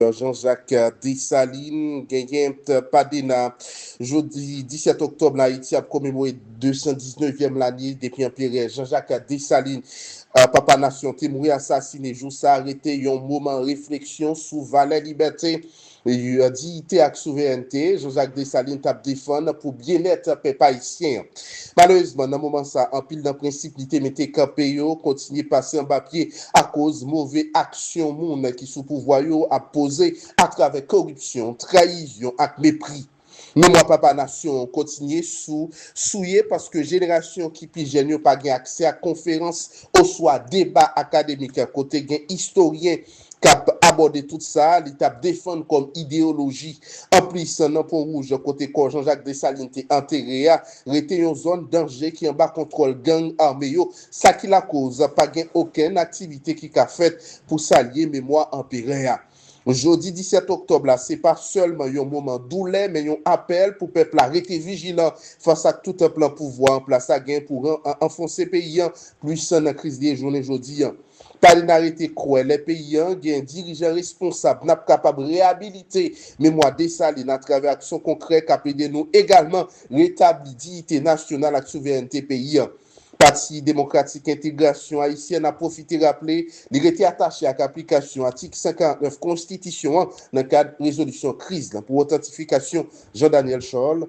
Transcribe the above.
Jean-Jacques Dessalines genyen pa Dena. Jodi 17 oktòb la Ayiti ap komemore 219 yèm lane depi anperè Jean-Jacques Dessalines papa nasyon te mouri asasine. Jou sa a rete yon moman refleksyon sou valè libète, diyite ak souverènte Jean-Jacques Dessalines tap defann pou byennèt pèp ayisyen an. Malerezman nan moman sa anpil nan prensip li te mete kanpe yo kontinye pase anba pye. akoz move aksyon moun ki sou pouvwa yo ap poze atravè koripsyon, trayizyon ak mepri. Memwa Papa Nasyon an kontinye sou souye paske jenerasyon ki pi jèn yo pa gen aksè ak konferans oswa deba akademik kote gen istoryen k ap abòde tout sa li t ap defann kòm ideyoloji. Anplis, nan Ponwouj kote kò Jean-Jacques Dessalines te antere a rete yon zòn danje ki anba kontwòl gang ame yo, Sa ki lakoz pa gen okenn aktivite ki ka fèt pou salye memwa Anperè a. Jodi 17 oktòb la se pa sèlman yon moman doulè men yon apèl pou pèp la rete vijilan fas ak tout plan pouvwa an plas la gen pou anfonse peyi an plis nan kriz li ye jounen jodi an. Palina rete kwè lè peyi an gen dirijan responsab n ap kapab reyabilite memwa Desalin atravè aksyon konkrè k ap ede nou egalman retabli diyite nasyonal ak souverènte peyi an. Pati Demokratik Entegrasyon Ayisyèn a pwofite raple li rete atache ak aplikasyon atik 149 konstitisyon an nan kad rezolisyon kriz la pou otantifikasyon Jean Daniel Charles,